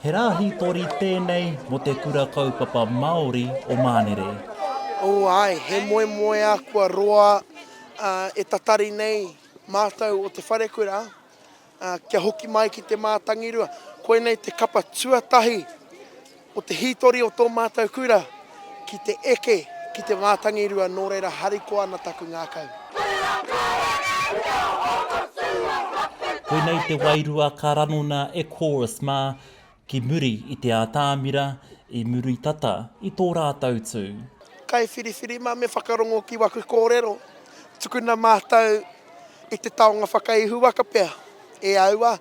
He rā hītori tēnei mō te Kura Kaupapa Māori o Mānere. Oh ae, he moemoeā kua roa e tatari nei mātou o te wharekura kia hoki mai ki te mātangirua. Koinei te kapa tuatahi o te hītori o tō mātou kura ki te eke ki te wātangirua nō reira harikoa ana taku ngākau. Koinei te wairua ka ranona e Chorus mā ki muri i te ātāmira i muri tata i tō rātou tū. Kaiwhiriwhiri mā me whakarongo ki waku kōrero, tukuna mātou i te taonga whakaihuwaka pea e aua,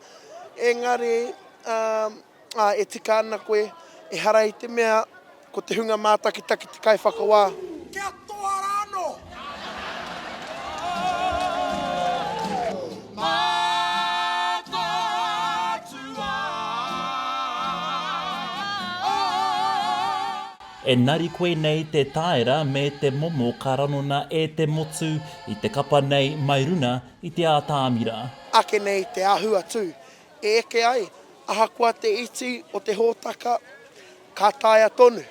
engari, umm. Ā, e tika ana koe, ehara i te mea ko te hunga mātakitaki te kaiwhakawā. Kia toa rā anō! Mataatua ai. Engari koinei te taera me te momo ka ranona e te motu i te kapa nei mai runa i te atamira. Ake nei te ahu a Tū, e eke ai, ahakoa te iti o te hōtaka, ka taea tonu.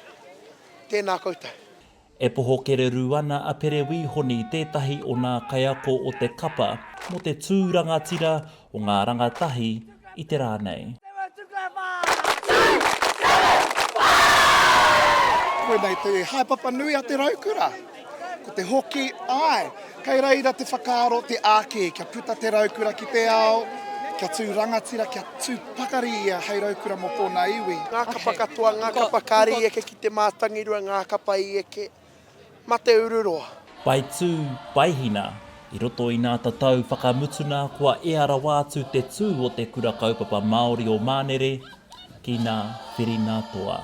Tēnā koutou. E poho kererū ana a Pere Wī Honi tētahi o nā kaiako o te kapa mō te tū rangatira o ngā rangatahi i te rā nei. Koinei te haepapa nui a te raukura. Ko te hoki, āe, kei reira te whakaaro te ākē kia puta te raukura ki te ao, kia tū rangatira, kia tū pakari ia hei raukura mō tōna iwi. Ngā kapa katoa, ngā kapa kāri i eke ki te mātangirua, ngā kapa i eke, mā te uru roa. Pai tū, pai hina. I roto i nā tatau whakamutuna kua ea rawa atu te tū o te Kura Kaupapa Māori o Mānere, ki na Whirinatoa.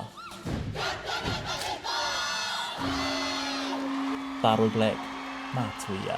Taro Black, Matuia.